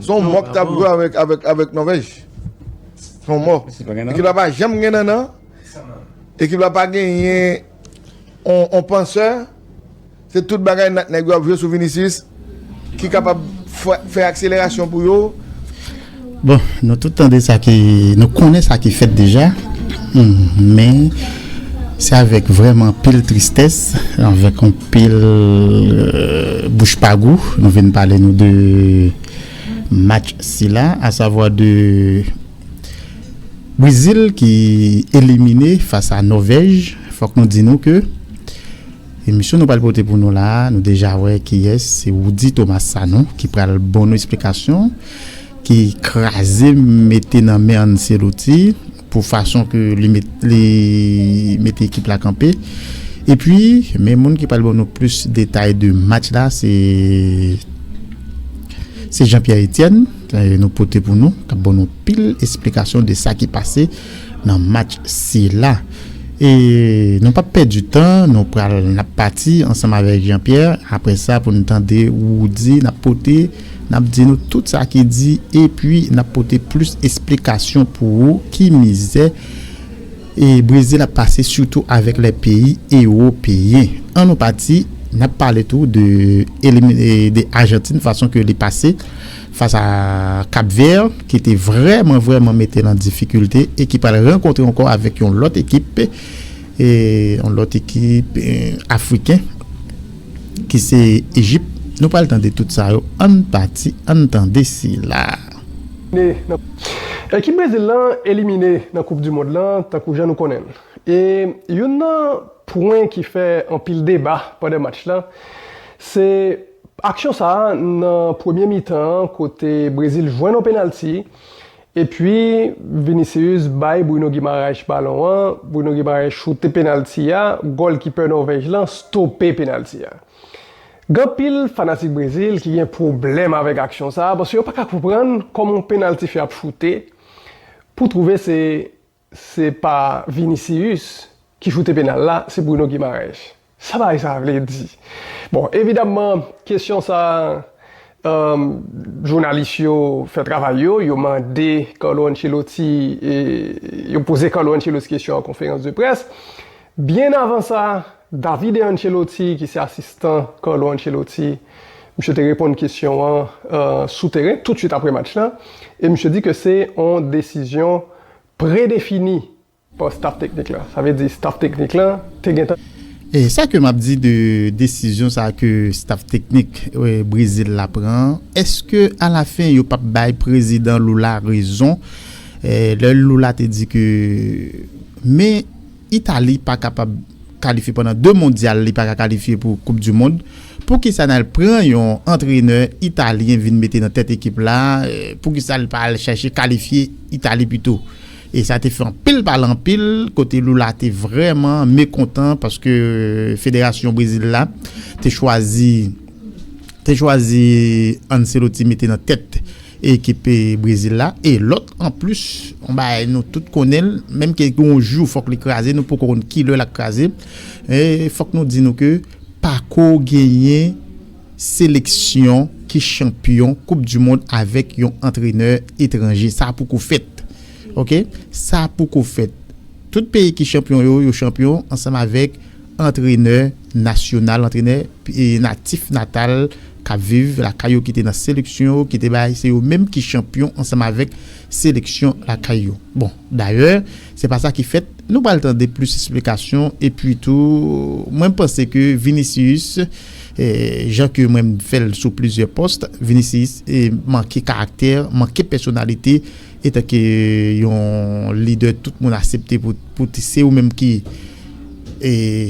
Son mò ki tap jwe avèk Nòvèj. Son mò. Ekip la pa janm gen nannan. Ekip la pa genyen on pansè. Se tout bagay nèg yo ap jwe sou Vinicius ki kapab fè akselerasyon pou yo. Bon, nou tout tande sa ki, nou konnen sa ki fèt deja. Men, se avèk vrèman anpil tristès, avèk anpil. Pil bouch pa gou nou vin pale nou de match sila a savwa de Brezil ki elimine fas a Nòvèj fòk nou di nou ke emisyon nou pral pote pou nou la a nou deja wè kiyès se Roudy Thomas Sanon ki pral bon nou esplikasyon ki kraze mete nan men Ancelotti. Pou fason ke li mete ekip la kanpe. Epi men moun ki pral ban nou plis detay de match la se se Jean Pierre Etienne nou pote pou nou kap ban nou pil esplikasyon de sa ki pase nan match sila. E nou pap pèdi tan nou pral nap pati ansanm avèk Jean Pierre apre sa pou nou tande Roody nap pote. N ap di nou tout sa ki di epi n ap pote plis esplikasyon pou ou ki mizè Brezil ap pase sitou avèk lè peyi ewopeyen. An nou pati, n ap pale tou de Ajantin fason ke li pase fas a Kap Vè ki te vrèman vrèman mete nan difikilte e ki pral rankontre ankò avèk yon lòt ekip yon lòt ekip Afriken. ki se Ejip, nou pral tande tout sa yo an pati ann tande sila a. Ekip Brezil lan elimine nan koup du mond lan tankou jan nou konnen l e youn nan pwen ki fè anpil deba pandan match lan se aksyon sa nan premye mitan an kote Brezil jwenn on penalti Epi Vinicius bay Bruno Guimaraes balon an, Bruno Guimaraes choute penalti a, gòlkipè Nòvèj lan stope penalti a. Gen anpil fanatik Brezil ki gen pwoblèm avèk aksyon sa a paske yo pa ka konprann kòman yon penaltifè ap choute pou twouve se Se pa Vinicius ki choute penal la, se Bruno Guimaraes. Sa bagay sa a vle di? Bon, evidamman, kesyon sa a, jounalis yo fè travay yo, yo mande Carlo Ancelotti, yo poze Carlo Ancelotti kesyon an konferans de près. Byen avan sa, Davide Ancelotti, ki se asistan Carlo Ancelotti, misye te reponn kesyon an sou teren, toutsuit apre match la, e misye di ke se yon desizyon Pre-defini pa staf teknik la. Sa vle di staf teknik la te gentan. E sa ke map di de desizyon sa ke staf teknik Brezil la pran an, eske a la fen yo pap bay prezidan Lula rezon lè Lula te di ke men Italie pa kapab kalifye pandan 2 mondial li paka kalifye pou koup du mond poukisa nal pran yon antrenè italyen vin mete nan tèt ekip la poukisa li pa al chache kalifye Italie pito e sa te fè anpil pale anpil kote Lula te vrèman mekontan paske federasyon brezil la te chwazi te chwazi Ancelotti mete nan tèt Ekip Brezil la e lòt anplis, yon bagay nou tout konnen l, menm ke gen yon jou fòk li kraze, nou poko konn ki lè l ap kraze. Fòk nou di nou ke pako genyen seleksyon ki chanpyon koup di mond avèk yon antrenè etranje. Sa poko fèt. Ok. Sa poko fèt. Tout peyi ki chanpyon yo, yo chanpyon ansanm avèk. Antrenè nasyonal, antrenè natif natal k ap viv lakay yo ki te nan seleksyon yo ki te bay se yo menm ki chanpyon ansanm avèk seleksyon lakay yo. Bon dayè se pa sa ki fèt nou pral tande plis esplikasyon epi tou mwen panse ke Vinicius jan ke mwen fè l sou plizyè pòs Vinicius manke karaktè, manke pèsonalite. Etanke yon lidè tout moun asepte pou se ou menm ki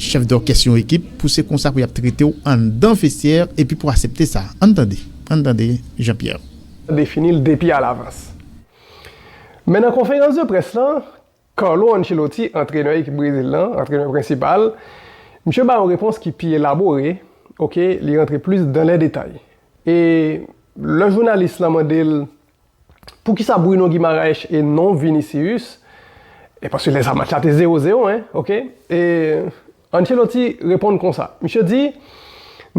chèf dòkès yon ekip, pou se konsa pou y ap trete w anndan vestyè epi pou asepte sa. Ann tande, ann tande Jean Pierre. defini l depi alavans. Men nan konferans de près lan, Carlo Ancelotti, antrenè ekip Brezil lan, antrenè prensipal, misye bay yon repons ki pi elabore, ok, li rantre plis dan lè detay. E lè jounalis lan mande l Poukisa Bruno Guimaraes e non Vinicius? E paske lè sa match la te 0 0 hein ok e Ancelotti reponn konsa misye di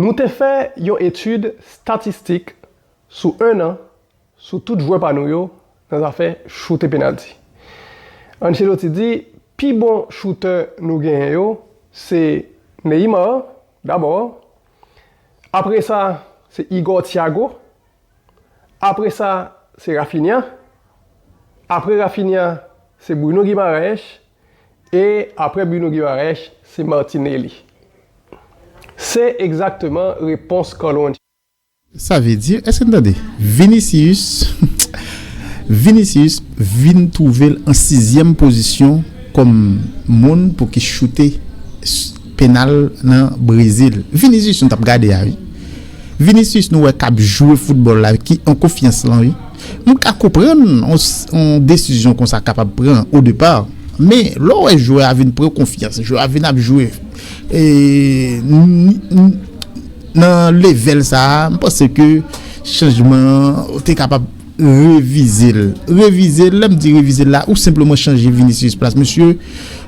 nou te fè yon etid statistik sou 1 an sou tout jwè pa nou yo nan zafè choute penalti Ancelotti di pi bon choutè nou genyen yo se Neymar dabò apresa se Igor Thiago Apre sa, se Raphinha. Apre Raphinha, se Bruno Guimaraes. E apre Bruno Guimaraes, se Martinelli. Se egzakteman repons Carlo Ancelotti. Sa vle di, èske n tande? Vinicius Vinicius vin twouve l an sizyèm pozisyon kòm moun pou ki choute. penal nan Brezil. Vinicius nou tap gade a wi. Vinicius nou wè kap jwe foutbòl la ki an konfyans lan wi. Mwen ka konprann yon desizyon konsa kapab pran o depa men lè w wè jwè a vin pran konfyans, jwè a vin ap jwe nan level sa a, mwen panse ke chanjman an te kapab. Revize l. Revize l, lè m di revize l la, ou senpleman chanje Vinicius plas misye.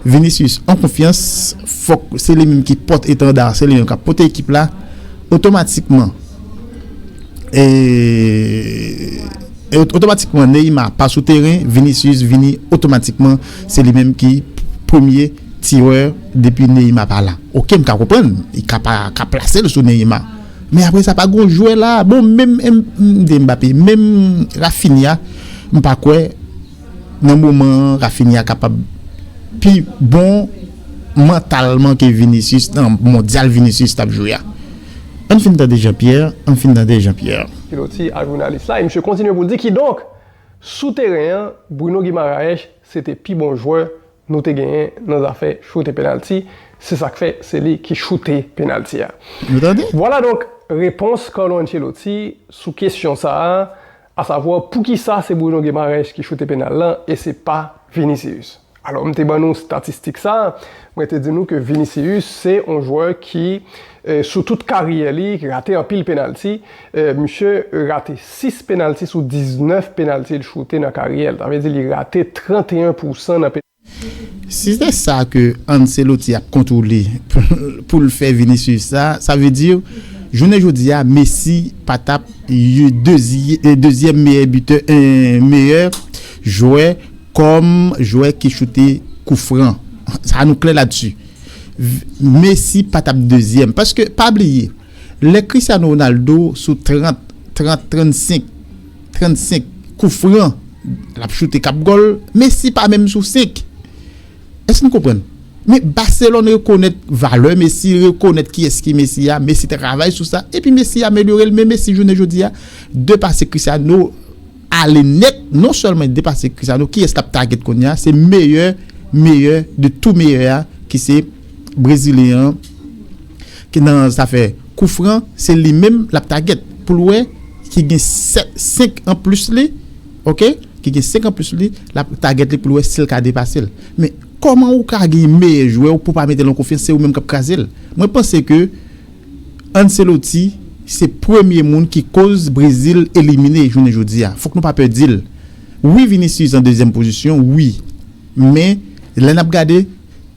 Vinicius an konfyans, fòk se li menm ki pòt etanda, se li menm k ap pote ekip la. Otomatikman, otomatikman Neymar pa sou teren, Vinicius vini otomatikman se li menm ki premye tirè depi Neymar pa la. Ok, m ka konprann, li ka pa ka plase l sou Neymar. Men apre sa pa gon jwè la, bon menm MD Mbappé, menm Raphinha m pa kwè nan moman an Raphinha kapab pi bon mantalman ke Vinicius nan mondyal Vinicius t ap jwe a. Ann fin tande Jean Pierre, ann fin tande Jean Pierre. Piloti a jounalis la e misye kontinye pou l di kidonk sou teren an Bruno Guimaraes se te pi bon jwè nou te genyen nan zafè choute penalti, se sa k fè se li ki choute penalti a. Vwala donk repons Carlo Ancelotti sou kesyon sa a, asavwa poukisa se Bruno Guimaraes ki choute penal lan e se pa Vinicius. Alò m te ban nou statistik sa a, mwen te di nou ke Vinicius se yon jwè ki sou tout karyè li rate anpil penalti Misye rate 6 penalti sou 19 penalti l choute nan karyè l. Sa vle di li rate 31 pousan nan penalti. Si se sa ke Ancelotti ap kontwole pou l fè Vinicius sa, sa vle di jounen jodi a Messi pa tap dezyèm meyè bitè meyè jwè kòm jwè ki choute kou fran. Sa nou klè la desi. Messi pa tap dezyèm paske pa bliye. Lè Cristiano Ronaldo sou 30, 30, 35, 35 kou fran l ap choute k ap gòl, Messi pa menm sou 5. Èske nou konprann? Men Barcelone rekonèt valè Messi, li rekonèt kiyès ki Messi a, Messi travay sou sa, epi Messi amelyore l, men Messi jounen jodi a, de pase Cristiano. ale nèt non sèlman li depase Cristiano kiyès kap target kounya se meyè meyè de tou meyè a ki se brezilyen an ki nan zafè kou fran se li menm lap target poul wè ki gen 5 anplis li ok ki gen 5 anplis li lap target li poul wè sil ka depasel men kòman ou ka gen meyè jwèw pou pa metel an konfyans se ou menm kap krazel mwen panse ke Ancelotti se premye moun ki koz Brezil elimine jounen jodi a fòk nou pa pè dil wi Vinicius an dezyèm pozisyon wi men lè nap gade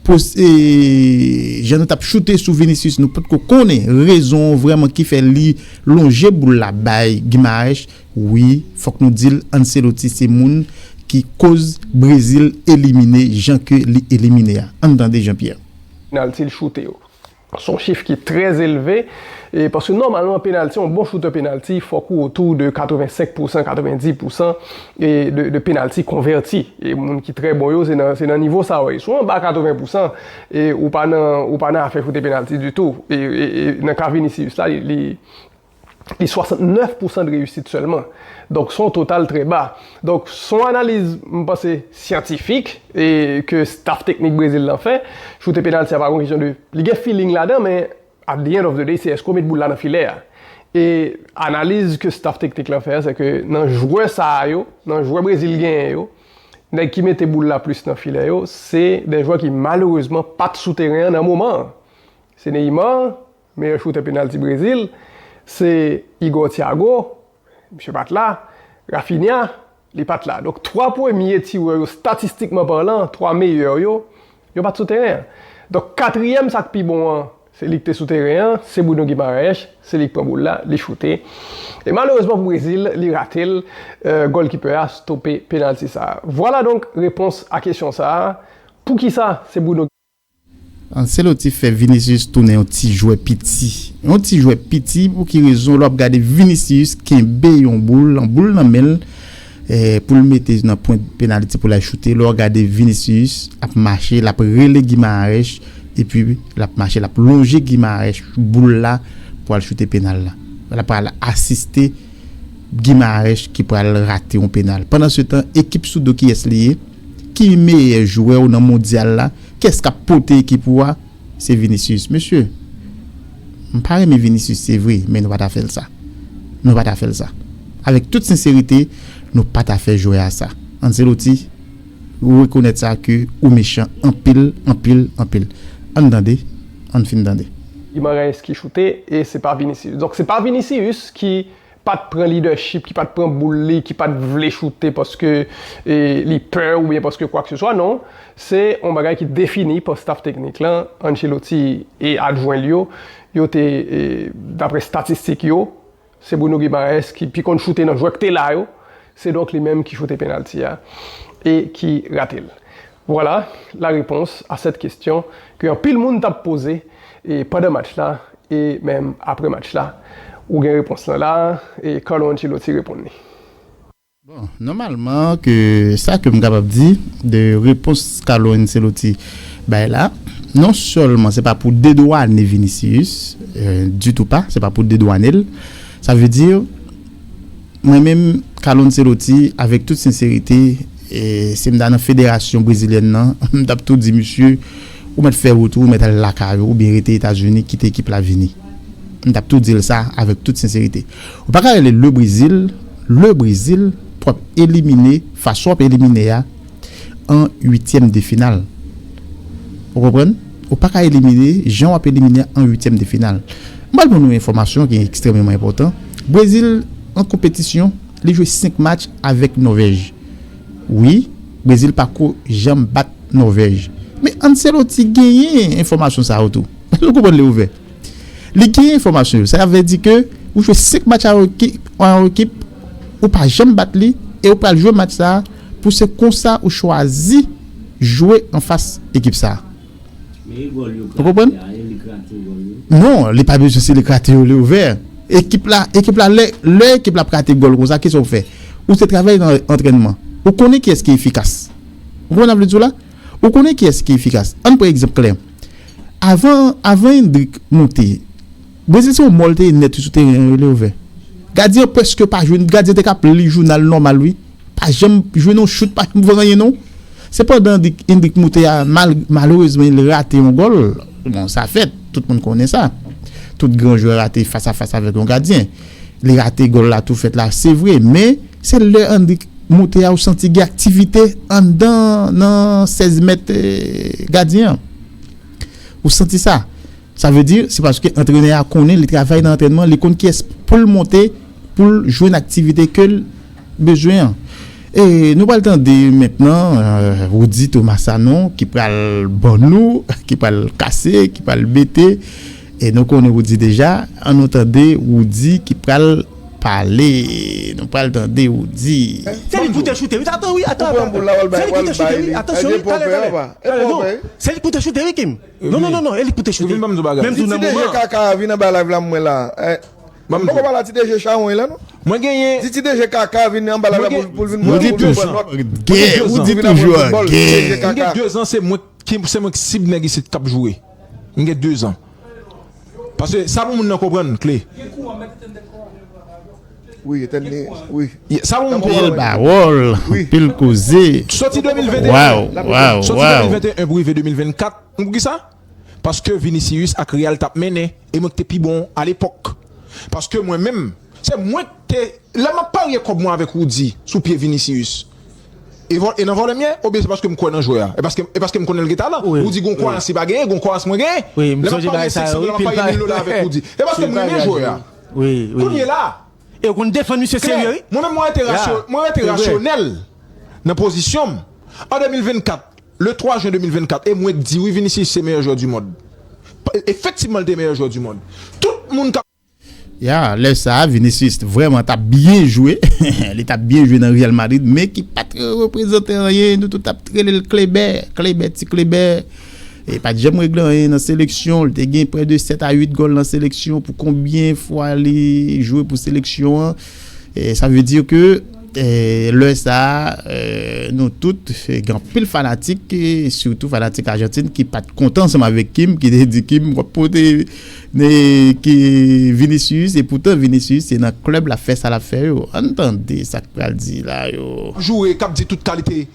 pos jan nou tap choute sou Vinicius nou potko konnen rezon an vrèman ki fè li lonje boul la bay Guimaraes wi fòk nou dil Ancelotti se moun ki koz Brezil elimine jan ke li elimine a ann tande Jean Pierre. Penalty l choute yo. Se yon chif ki trè elve, paske nòmalman penalti, yon bon choutè penalti, fòk ou otou de 85 pousan, 90 pousan de penalti konvèti. E moun ki trè bon yo, se nan nivo sa yo ye. Si w anba 80 pousan, ou pa nan afè choute penalti ditou. E nan ka Vinicius la, li... li 69 pousan de reyisit sèlman. Donk son total trè ba. Donk son analiz m panse syantifik e ke staf teknik Brezil lan fè. Choute penalti a pa gon kesyon de li gen feeling ladan men at the end of the day se èske w met boul la nan filè a. E analiz ke staf teknik lan fè a se ke nan jwè sa a yo, nan jwè Brezil genyen yo, nèg ki mete boul la plis nan filè yo se de jwè ki malerezman pat sou teren an nan moman an. Se Neymar, Meyè choutè penalti Brezil se Igor Thiago, misye pat la, Raphinha, li pat la. Donk 3 premye tirè yo statistikman parlan, 3 meyè yo, yo pat sou teren an. Donk katriyèm sa k pi bon an, se li k te sou teren an, se Bruno Guimaraes, se li k pran boul la, li choute. E malerezman pou Brezil, li rate l, gòlkipè a stope penalti sa a. Vwala donk repons a kesyon sa a, poukisa se Bruno. Ancelotti fè Vinicius tounen yon ti jwè piti. Yon ti jwè piti pou ki rezon lè w ap gade Vinicius kenbe yon boul, yon boul nan men l pou l mete nan pwent penaliti pou l al choute. Lè w gade Vinicius ap mache, l ap rele Guimaraes epi l ap mache l ap lonje Guimaraes boul la pou al choute penal la. L ap al asiste Guimaraes ki pral rate yon penal. Pandansetan ekip sou do kiyès li ye? Ki meyè jwè w nan mondyal la? Kès k ap pote ekip ou a? Se Vinicius. Mesye, m pa renmen Vinicius se vre, men nou pa ta fè l sa. Nou pa ta fè l sa. Avèk tout senserite, nou pa ta fè jwè a sa. Ancelotti, ou rekonèt sa ke ou mechan anpil, anpil, anpil. An n tande, an n fin tande. Guimaraes ki choute e se pa Vinicius. Donk se pa Vinicius ki. pat pran lidèchip, ki pat pran boul li, ki pat vle choute paske li pè oubyen paske kwakseswa non, se yon bagay ki defini pa staf teknik lan, Ancelotti e adjwen l yo, yo te daprè statistik yo, se Bruno Guimaraes ki pi konn choute nan jwè ki te la yo, se donk li menm ki choute penalti a e ki rate l. Voilà la réponse à cette question ke anpil moun tap poze e pandan match la e menm aprè match la. Ou gen repons lan la e Carlo Ancelotti reponn li. Bon, nòmalman ke sa ke m kapab di de repons Carlo Ancelotti bay la, non sèlman se pa pou dedwane Vinicius, du tout pas, se pa pou dedwane l, sa vle di, Mwen menm Carlo Ancelotti avèk tout senserite si m ta nan federasyon brezilyèn nan m tap tou di misye ou mèt fè wout ou, ou mèt al lakay ou oubyen rete Etazini kite ekip la vini. M tap tou di l sa avèk tout senserite. Ou paka rele le Brezil, le Brezil pou w ap elimine fason w ap elimine a. an uityèm de final ou konprann ou paka elimine jan wap elimine an uityèm de final m pral ban nou enfòmasyon ki ekstrèmeman enpòtan Brezil an konpetisyon li jwe 5 match avèk Nòvèj wi Brezil pako janm bat Nòvèj men Anceloti genyen enfòmasyon sa yo tou nou konprann li ouvè. Li gen enfòmasyon yo. Sa vle di ke ou jwe 5 match a yon ekip, ou pa janm bat li e ou pral jwe match sa pou se konsa ou chwazi jwe anfas ekip sa. Ou konprann? Non, li pa bezwen se li krate yo, li ouvè. Ekip la, ekip la lè, lè ekip la ap rate gòl konsa kisa ou fè? Ou se travay nan antrènman. Ou konnen kiyès ki efikas. Ou konprann sa m vle di w la? Ou konnen kiyès ki efikas? Ann pran egzanp klè. Avan avan Endrik moute, Brezil se yon mò l te ye nèt wi sou teren an yo lè ouvè. Gadyen an prèske pa jwe, gadyen an te ka ap li jounal nòmal wi. Pa janm jwe non chout, pa janm fè anyen non. Se pandan Endrik moute a mal malerezman li rate yon gòl, bon sa fèt, tout moun konnen sa. Tout gran jwè rate fas a fas avèk yon gadyen. Li rate gòl la tou fèt la se vre men. Se lè Annik moute a ou santi gen aktivite anndan nan 16 mèt gadyen an. Ou santi sa. Sa vle di se paske antrenè a konnen li travay nan antrènman, li konn kiyès pou l monte pou l jwenn aktivite ke l bezwen an. E nou pral tande mentnan Roudy Thomas Sanon ki pral ban nou, ki pral kase, ki pral mete. E nou konnen Roody deja, an nou tande Roody ki pral pale, nou pral tande Roody. Se li pou te choute wi atan wi atan atan atan se li pou te choute wi atansyon wi talè talè talè non se li pou te choute wi Kim non non non non e li pou te choute menm tou nan moman an. Ti deje kaka a vin anba live la m wè la m poko pala ti deje chawony la non di ti deje kaka a vin anba live la pou l vin pran nòt Roody toujou an gè m gen 2 zan se mwen ki se mwen ki sib nèg isit k ap joure. M gen 2 zan. Paske sa pou moun nan konprann kle. Sa pou moun konprann. Anpil pawòl, anpil koze. Soti 2021 pou rive 2024. Konn pou kisa? Paske Vinicius ak Real t ap mennen e mwen k te pi bon alepòk. Paske mwen menm, se mwen k te. Lè m ap parye kòb mwen avèk Roody sou pye Vinicius. E nan vòlè m ye? Oubyen se paske m kwè nan jwè a? E paske m konnen l gen talan? Woody gon kwayans li pa genyen, gon kwayans mwen genyen. Lè m ap parye 500 dola, m ap parye 1000 dola avèk Woody. E paske m renmen jwè a. Kounye la a. E w konn defann misye serye wi. Mwen menm mwen rete rasyonèl nan pozisyon m. An 2024, le 3 jen 2024, e mwen k di wi Vinicius se meyè jwè du mond. Efektivman l te meyè jwè du mond. Tout moun k ap. Ya, lè sa a, Vinicius vrèman t ap byen jwe, li t ap byen jwe nan Real Madrid, men ki pa t reprezante anyen, nou tout t ap rele l Klebè, Klebè, ti Klebè, e pa t janm regle anyen nan seleksyon, li te gen prè de 7 a 8 gòl nan seleksyon pou konbyen fwa li jwe pou seleksyon an, sa vle di ke lè sa a nou tout gen anpil fanatik, sitou fanatik Ajantin ki pa t kontan ansanm avèk Kim, ki te di Kim w ap pote. Vinicius e poutan Vinicius se nan club lap fè sa lap fè yo ann tande sak pral di la yo. joure kap di tout kalite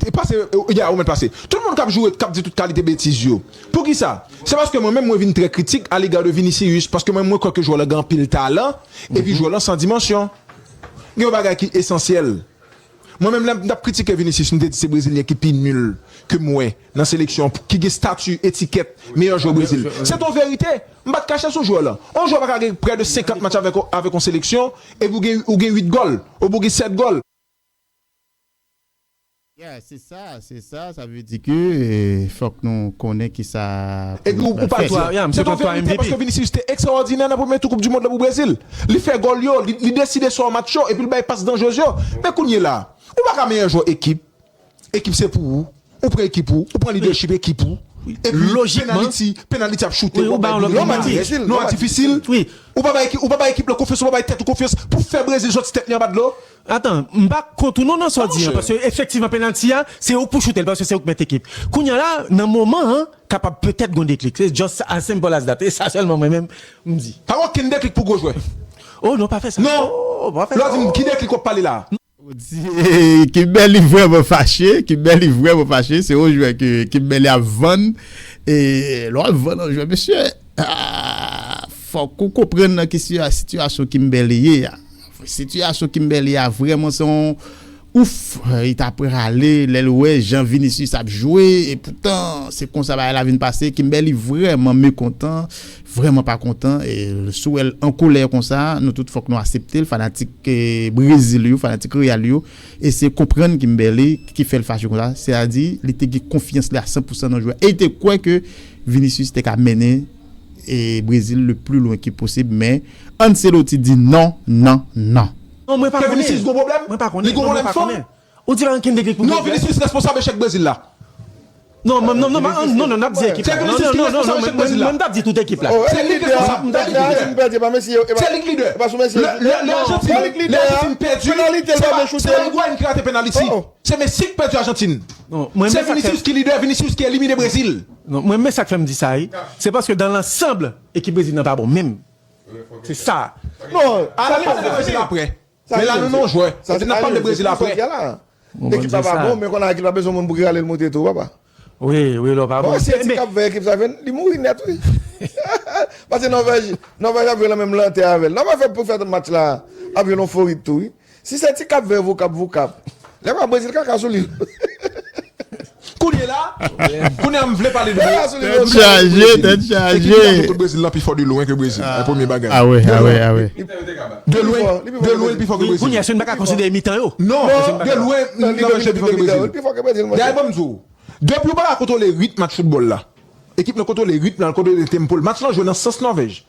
e pase ya ou mèt pase tout moun kap joure kap di tout kalite betiz yo poukisa se paske mwen menm mwen vin trè kritik a lega de Vinicius paske mwen mwen kwè ke jwè lan gen anpil talan epi jwè lan san dimansyon gen yon bagay ki esansyèl mwen menm lèm tap kritike Vinicius mte di se brezilyen ki pi nul kem wè. nan seleksyon an ki gen stati etikèt meyè jwè Brezil. Se t on verite, m pa t kache sou jwè lan. On jwè pa ka gen prè de 50 match avèk on seleksyon epi ou gen ou gen 8 gòl, oubyen ou gen 7 gòl. Ya, se sa, se sa, sa vle di ke fòk nou konnen ki sa pou nou pral fè. Se t on verite paske Vinicius te ekstraòdinè nan premye tou koup di mond lan pou Brezil. Li fè gòl yo, li deside sò match yo epi l bay pas danjrez yo. Men kounyela a, ou pa ka meyè jwè ekip, Ekip se pou ou, ou pran ekip ou, ou pran lidèchip ekip ou, epi penaliti, penaliti ap choute, ou bay Brezil, non a difisil, ou pa bay ekip lan konfyans, ou pa bay tèt ou konfyans pou fè Brezil sòti tèt li anba dlo. Atan, m pa kont ou non nan sa w di an, paske efektivman penalti a, se ou k pou choute l, paske se ou k mèt ekip. Kounya la, nan moman an, kapab petèt gon deklik. Se just as simple as that. E sa sèlman mwen menm, m di. Pa gen okenn deklik pou gwo jwè. Oh non, pa fè sa. Non! Lè w di m ki deklik w ap pale la a? Kimberly vrèman fache, Kimberly vrèman fache, se yon jwè ke Kimberly ap vann, e lè wap vann yon jwè mesye, fòk ou konprann nan ki sitiyasyon Kimberly ye a, sitiyasyon Kimberly a vrèman se yon ouff, li ta prale lèl wè jan Vinicius ap jwe, e poutan se konsa bagay la vin pase, Kimberly vrèman mekontan. Vrèman pa kontan sou wèl an kolè konsa nou tout fòk nou aseptel fanatik brezil yo fanatik real yo eseye konprann kimberly ki fèl fache konsa se a di li te gen konfyans li a 100 pousan nan jwè e li te kwè ke vinicius te ka mennen brezil le pli lwen ke posib men ancelotti di nan nan nan. Non mwen pa konnen. Mwen pa konnen non mwen pa konnen. Ou di rankin te klik pou pwogrè. Non Vinicius responsab echèk Brezil la. Non non non non non nap di ekip la non non non non mwen mtap di tout ekip la. Se li ki responsab mtap di tout ekip la. Se li ki lidè. Le Argentine le Argentine pèdi se pa se pa Higuain ki rate penaliti. Se Messi ki pèdi Argentine. Se Vinicius ki lidè Vinicius ki elimine Brezil. Non mwen men sak fèm di sa wi se paske dan lansanb ekip Brezil nan pa bon menm. Se sa. Non. Sa li pase nan Brezil aprè. Men la nou non jwè. Sa di nap pale de Brezil apre. Bon bann se sa. Mwen konn Akil pa bezwen moun pou rale l monte tou papa. Wi wi lò pa bon. Sil di kap veye ekip sa vin li mouri nèt wi. Pase Nòvèj Nòvèj ap jwe lan menm lantè avèl. Nòvèj fè pou fè tout match la ap jwe lon forit tou wi. Si se ti kap vè vokap vokap. Lè pa Brezil kaka sou li. Kounye la, kounye a m vle pale de Brésil. Tèt chaje! Ekip ki ka fè kout Brésil lan pi fò de lwen ke Brésil. Ay premye bagay. Awe, awe, awe. De lwen, de lwen l pi fò ke Brésil. Kounye a èske n pa ka konsidere mitan yo? Non, de lwen nan mitan yo l pi fò ke Brésil. Dayè ban m di w, depi w pa ka kontwole ritm match foutbòl la, ekip nan kontwole ritm nan, l kontwole tempo l, match lan jwe nan sans Nòvèj.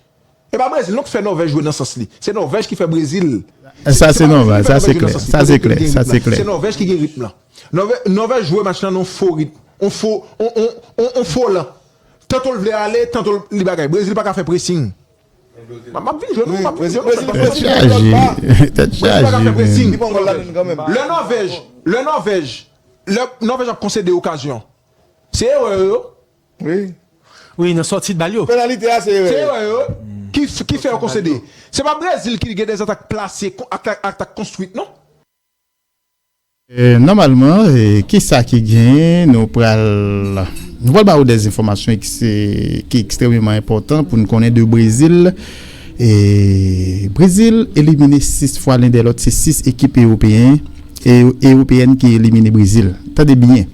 E pa Brezil non ki fè Nòvèj jwe nan sans li. Se Nòvèj ki fè Brezil. Sa se nòmal, sa se klè, sa se klè, sa se klè. Se Nòvèj ki gen ritm lan. Nòvèj jwe match lan nan yon fo ritm, yon fo, yon fo lan. Tanto l vle ale, tanto li bagay. Brezil pa ka fè presing. M ap vin jwenn ou, m ap vin jwenn ou. Brezil pa ka fè presing. Tèt chaje. Li pran gòl la menm kanmenm. Lè Nòvèj, lè Nòvèj, lè Nòvèj ap konsede okazyon, se erè yo. Wi. Wi nan sòti bal yo. Penalite a se erè yo. Ki fè yo konsede. Se pa Brezil ki gen 2 atak plase atak konstwit non. Nòmalman kisa ki gen nou pral nou pral ba ou dè enfòmasyon ki ekstrememan enpòtan pou nou konnen de Brezil e Brezil elimine 6 fwa len dè lòt se 6 ekip ewopeyen ewopeyèn ki elimine Brezil tande byen.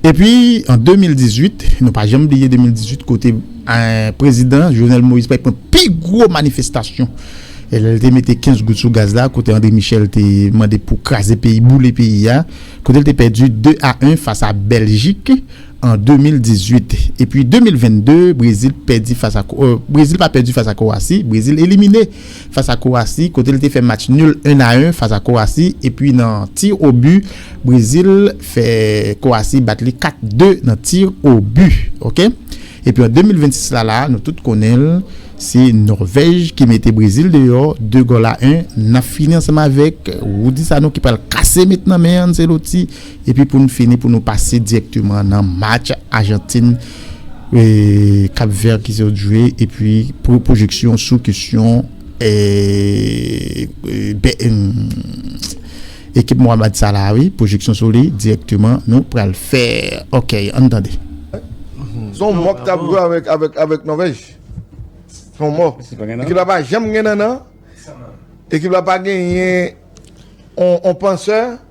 Epi an 2018, nou pa janm bliye 2018 kote prezidan Jovenel Moïse pral pran pi gwo manifestasyon lè l te mete 15 goud sou gaz la kote André Michel te mande pou kraze peyi, boule peyi a, kote l te pèdi 2 a 1 fas a Bèljik an 2018. Epi 2022, Brezil pèdi fas a, Brezil pa pèdi fas a Kowasi, Brezil elimine. fas a Kowasi kote li te fè match nul 1 a 1 fas a Kowasi epi nan tir o bu Brezil fè Kowasi bat li 4 2 nan tir o bu ok epi an 2026 la la nou tout konnen l se Nòvèj ki mete Brezil deyò 2 gòl a 1 n ap fini ansanm avèk Roody Sanon ki pral kase met nan men Anceloti. Epi pou n fini pou nou pase dirèkteman nan match Ajantin Kap Vè ki sot jwe epi pou pwojeksyon sou kesyon ekip Mohammad Salah wi pwojeksyon sou li dirèkteman nou pral fè ok ann tande. Son mò k tap jwe avèk Nòvèj son mò ekip la pa janm gen nannan ekip la pa genyen on pansè.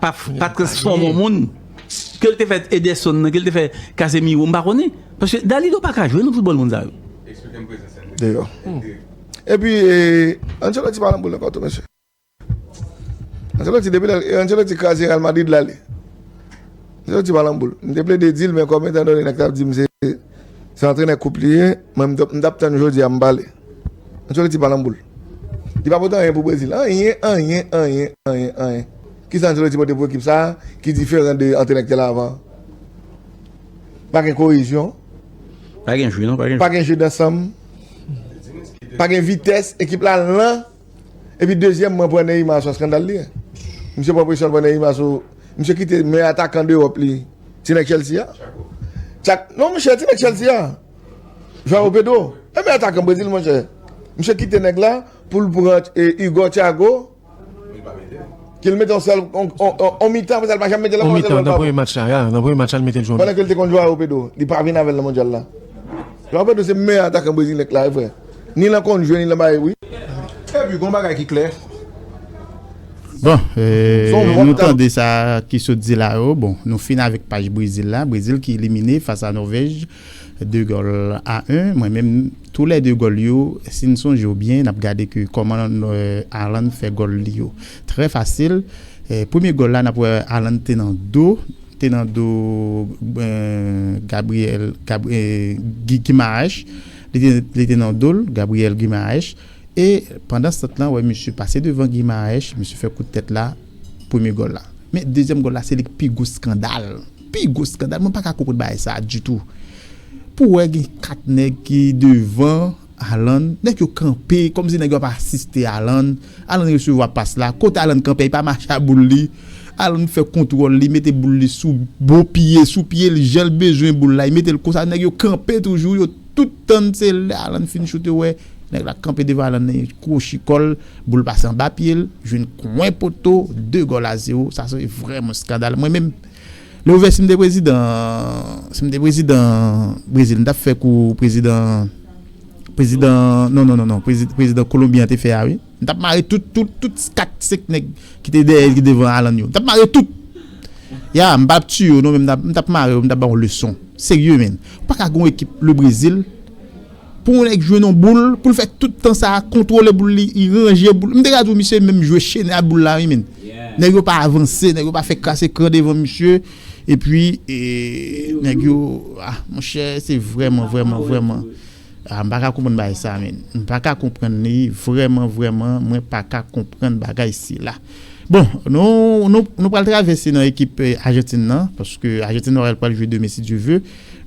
pa transfòme an moun ke l te fè Ederson nan ke l te fè Casemiro m pa konnen paske Dalido pa ka jwe nan foutbòl moun sa yo deyò epi Ancelotti pa nan boul ankò tou mesye Ancelotti depi lè Ancelotti kraze Real Madrid l ale Ancelotti pa nan boul m te plede di l men kòm etan done nèg t ap di m se antrenè koup li ye mwen m t ap tann jodi a m pale. Ancelotti pa nan boul. Li pa pote anyen pou Brezil. Anyen, anyen, anyen, anyen, anyen. Ki sa Ancelotti pote pou ekip sa a ki diferan de antrenè ki te la avan an? Pa gen koyezyon. Pa gen jeu non, pa gen jeu. Pa gen jeu dansanm. Pa gen vitès. Ekip la lan. E pi dezyèmman pran Neymar se yon skandal li ye. Misye pran presyon l pran Neymar sou Misye kite meyè atakan dewòp li ti nèg Chelsea a. Tchako. Tchak, non monchè ti nèg Chelsea a. João Pedro e men atakan Brezil monchè. Misye kite nèg la pou l pran Hugo Thiago ke l mete yon sèl yon mitan apre sa l pa janm mete l ankò. Yon mitan nan premye match la, nan premye match la l mete l jwe yon mitan. Pandan ke l te konn João Pedro, li pa vin avè l nan mondyal la. João Pedro se meyè atakan Brezil nèk la e vre. Ni lan konn jwe ni lan bay wi. Epi gon bagay ki klè. Bon, nou tande sa ki sot di la yo. Bon, nou fin avèk paj Brezil la. Brezil ki elimine fas a Norvège. 2 gòl a 1 mwen menm tou lè 2 gòl yo sin sonje yo byen nap gade ke kòman Haaland fè gòl li yo trè fasil premye gòl la nap wè Haaland te nan do te nan do Gabriel Guimaraes li te nan dol Gabriel Guimaraes e pandan stant lan wè misye pase devan Guimaraes misye fè kout tèt la premye gòl la men dezyèm gòl la se li ki pi gwo skandal. Pi gwo skandal, mwen pa ka konprann bagay sa ditou. Pou wè gen 4 nèg ki devan Alan, nèg yo kanpe, kòm si nèg yo ap asiste Alan, Alan resevwa pas la, kote Alan kanpe a li pa mache a boul li, Alan fè kontwòl li, mete boul li sou bon pye, sou pye li, jan l bezwen boul la, li mete l konsa, nèg yo kanpe toujou, yo tout tann se lè Alan fin choute yo wè nèg la kanpe devan Alan nan, yo kwochi kò l, boul pase anba pye l, jwenn kwen poto, 2 gòl a zewo, sa se vrèman skandal. Mwen menm. Le ouvè sim te prezidan sim te prezidan brezil m tap fè kou prezidan prezidan non non non non prezidan kolonbi an te fè a wi m tap mare tout tout tout 4 5 nèg ki te dèyèl ki devan alan yo m tap mare tout ya m pap tiye yo non men m tap mare yo m tap ba yo leson serye men ou paka gen yon ekip le brezil Pou yon nèg jwe nan boul, pou l fè tout tan sa a, kontwole boul li, ranje boul. M te ka di w misye menm jwe chene ak boul la wi menn. Nèg yo pa avanse, nèg yo pa fè kras ekran devan misye. Epi, nèg yo, a monchè, se vrèman, vrèman, vrèman. A m pa ka konprann bagay sa a menn. M pa ka konprann li, vrèman, vrèman, mwen pa ka konprann bagay sila. Bon, nou pral travèse nan ekip Ajantin nan, paske Ajantin Norèl pral jwe demen si Dye ve.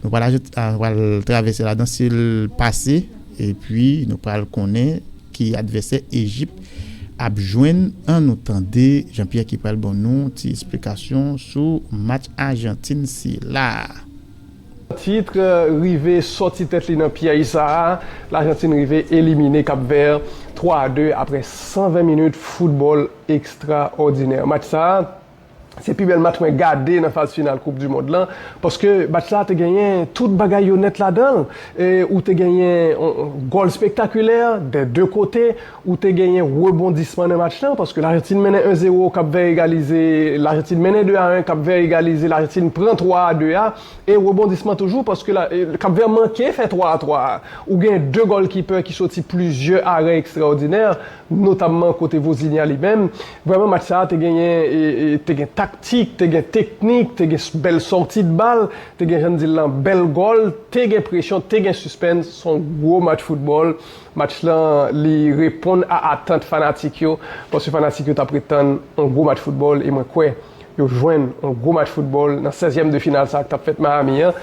Nou pral ajoute, nou pral travèse ladan si l pase, epi nou pral konnen ki advèsè Ejip ap jwenn. An nou tande Jean Pierre ki pral ban nou ti esplikasyon sou match Ajantin sila a. Titre, Rive sòti tèt li nan pyèj sa a, Lajantin rive elimine Kap Vè 3 a 2 aprè 120 minit foutbòl ekstraòdinè. Match sa a Se pi bèl match mwen gade nan faz final koup du mond lan paske match la te genyen tout bagay yo nèt ladanl e ou te genyen gòl spektakulè dè 2 kote ou te genyen rebondisman nan match lan paske lajantin mennen 1 zero kap vè egalize lajantin mennen 2 a 1 kap vè egalize lajantin pran 3 a 2 a e rebondisman toujou paske kap vè manke fè 3 a 3 a ou genyen 2 gòlkipè ki soti plizyè arè ekstraòdinè. notamman kote Vozinha li menm, vrèman match sa te genyen te gen taktik, te gen teknik, te gen bèl sòti de bal, te gen jan n di l lan bèl gòl, te gen presyon, te gen sispens, s on gwo match foutbòl, match lan li reponn a atant fanatik yo, paske fanatik yo t ap ret tann on gwo match foutbòl e mwen kwè. yo jwenn yon gwo match foutbòl nan 16 yèm de final sa k tap fèt Miami an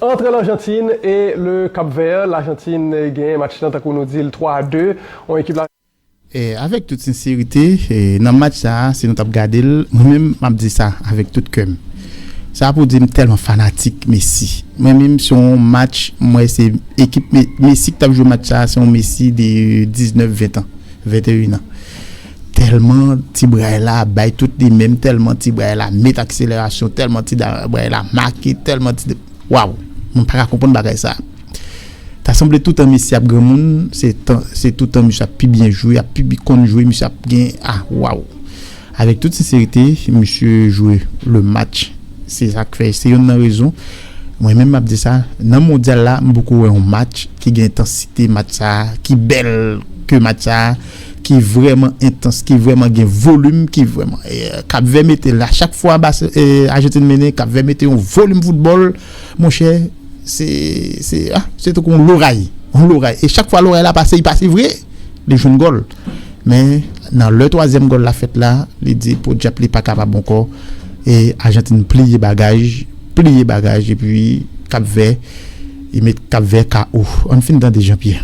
antre Larjantin e Le Kap Vè, Larjantin genyen match lan tankou nou di l 3 a 2 yon ekip la. Avèk tout senserite nan match sa si nou tap gade l mwen menm map di sa avèk tout kè m sa pou di m tèlman fanatik Messi mwen menm se yon match m wè se ekip Messi k tap jwe match sa se yon Messi de 19 20 tan 21 an. Tèlman ti bray la bay tout li menm tèlman ti bray la met akselerasyon tèlman ti bray la make tèlman ti waw mwen paka konprann bagay sa ta sanble toutan mesye ap granmoun se toutan misye ap pi byen jwe ap pi konn jwe misye ap gen a waw avèk tout senserite misye jwe le match se sak fè se yonn nan rezon mwen menm map di sa nan mondyal la m poko wè yon match ki gen entansite match sa ki bèl ke match sa. ki vrèman entans, ki vrèman gen volim, ki vrèman, Kapvè mete la chak fwa Ajantin mennen, Kapvè mete yon volim foutbòl, monchè, se, se, ah, se tankou yon loray, yon loray, e chak fwa loray la pase, li pase vre, li jwenn gòl, men, nan lè twazyèm gòl la fèt la, li di podyap li pa kapab ankò, e Ajantin pliye bagaj, pliye bagaj, epi Kapvè, li met Kapvè KO. Ann fin tande Jean Pierre.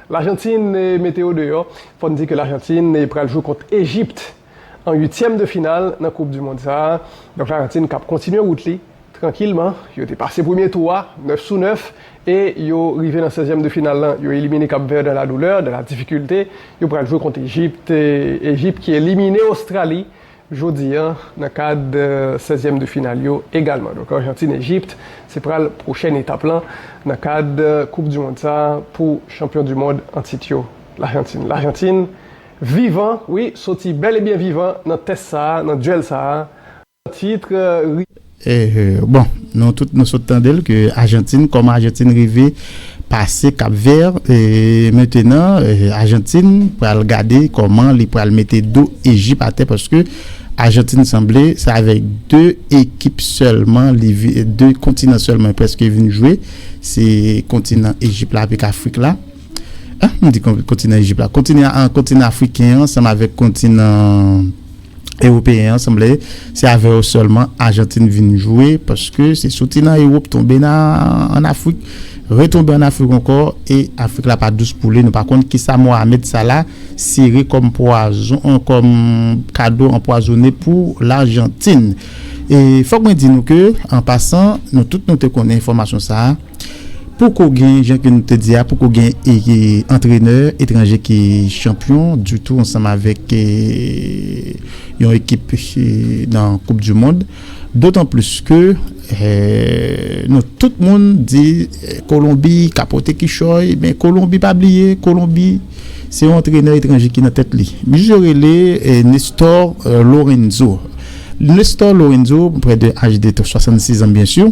Lajantin mete yo deyò. Fò n di ke Lajantin pral jwe kont Ejipt an uityèm de final nan koup du mond sa a. Donk Lajantin kap kontinye wout li trankilman. Yo te pase premye tou a 9 sou 9 e yo rive nan sèzyèm de final lan. Yo elimine Kap Vè dan la doulè, dan la difikilte. Yo pral jwe kont Ejipt. Ejipt ki elimine Ostrali. Jodi an nan kad 16 zièm de final yo egalman. Donk Argentine Egypt se pral pwochèn etap lan nan kad koup du mond sa pou chanpyon du mond an tit yo L'Argentine. L'Argentine vivan wi soti bèl e byen vivan nan tès sa nan duèl sa an titre. Bon nou tout nou sot tande l ke Ajantin kòman Ajantin rive pase Kap Vè e mentenan Ajantin pral gade kòman li pral mete do Ejip atè paske Ajantin sanble se avèk 2 ekip sèlman li vi 2 kontinan sèlman prèske vin jwe se kontinan Ejip la avèk Afrik la m di kontinan Ejip la kontinan Afriken ansanm avèk kontinan. Ewopeyen an sanble se avè yo sèlman Ajantin vin jwe paske se soti nan Ewop tonbe nan an Afrik retonbe an Afrik ankò e Afrik la pa dous pou li nou pa konn kisa Mohamed Salah sere kòm pwazon kòm kado anpwazone pou Lajantin. E fòk mwen di nou ke an pasan nou tout nou te konnen enfòmasyon sa a. Poko gen, jan ke nou te di a, poko gen antrenè etranje ki chanpyon ditou ansanm avèk yon ekip nan koup du mond. Dotan plis ke nou tout moun di Kolonbi ka pote kichòy, men Kolonbi pa bliye Kolonbi se yon antrenè etranje ki nan tèt li. Misye yo rele Nestor Lorenzo. Nestor Lorenzo, près de âge de 66 ans bien sûr.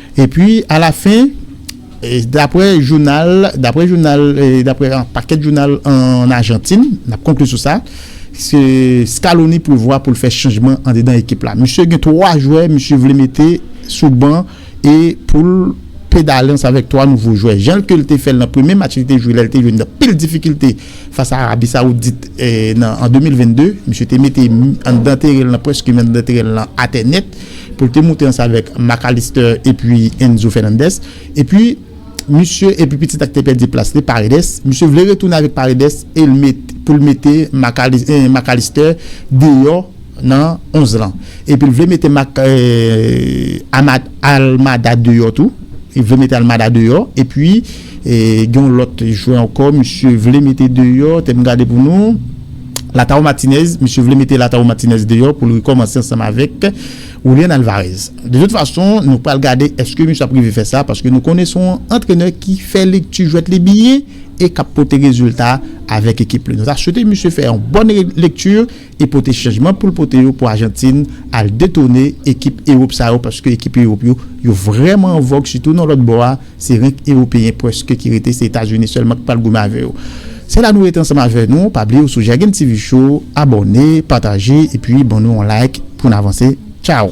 Epi alafen, daprè jounal, daprè jounal, daprè yon pakèt jounal ann Ajantin, n ap konkli sou sa, se Scaloni prevwa pou l fè chanjman andedan ekip la. Misye gen 3 jwè misye vle mete sou ban e pou l pedale ansanm avèk 3 nouvo jwè. Jan ke l te fè l nan premye match li te jwe lè l te jwenn anpil difikilte fas a Arabi Sawoudit an 2022, misye te mete anndan teren l nan, prèske anndan teren l nan atè nèt. pou l te moute ansanm avèk Mac Allister epi Enzo Fernandez epi misye epi pitit la ki te pèdi plas li Paredes misye vle retounen avèk Paredes e l met pou l mete Mac Allister deyò nan 11 lan epi l vle mete Mac Almada deyò tou li vle mete Almada deyò epi. Gen yon lòt jwè ankò misye vle mete deyò, tè m gade pou nou, Lautaro Martinez. Misye vle mete Lautaro Martinez deyò pou l rekòmanse ansanm avèk Julian Alvarez. De tout fason, nou pral gade èske misye ap rive fè sa paske nou konnen se yon antrenè ki fè lekti jwèt li byen e k ap pote rezilta avèk ekip li. Nou ta swete misye fè yon bòn lekti. e pote chanjman poul pote yo pou Ajantin al detone ekip Ewop sa yo paske ekip Ewop yo yo vrèman an vòg sitou nan lòt bò a se renk Ewopeyen prèske ki rete se Etazini sèlman ki pral goumen avè yo se la nou rete ansanm avè nou pa bliye ou sou Jagin TV show abòne pataje epi ban nou yon like poun avanse tchaww.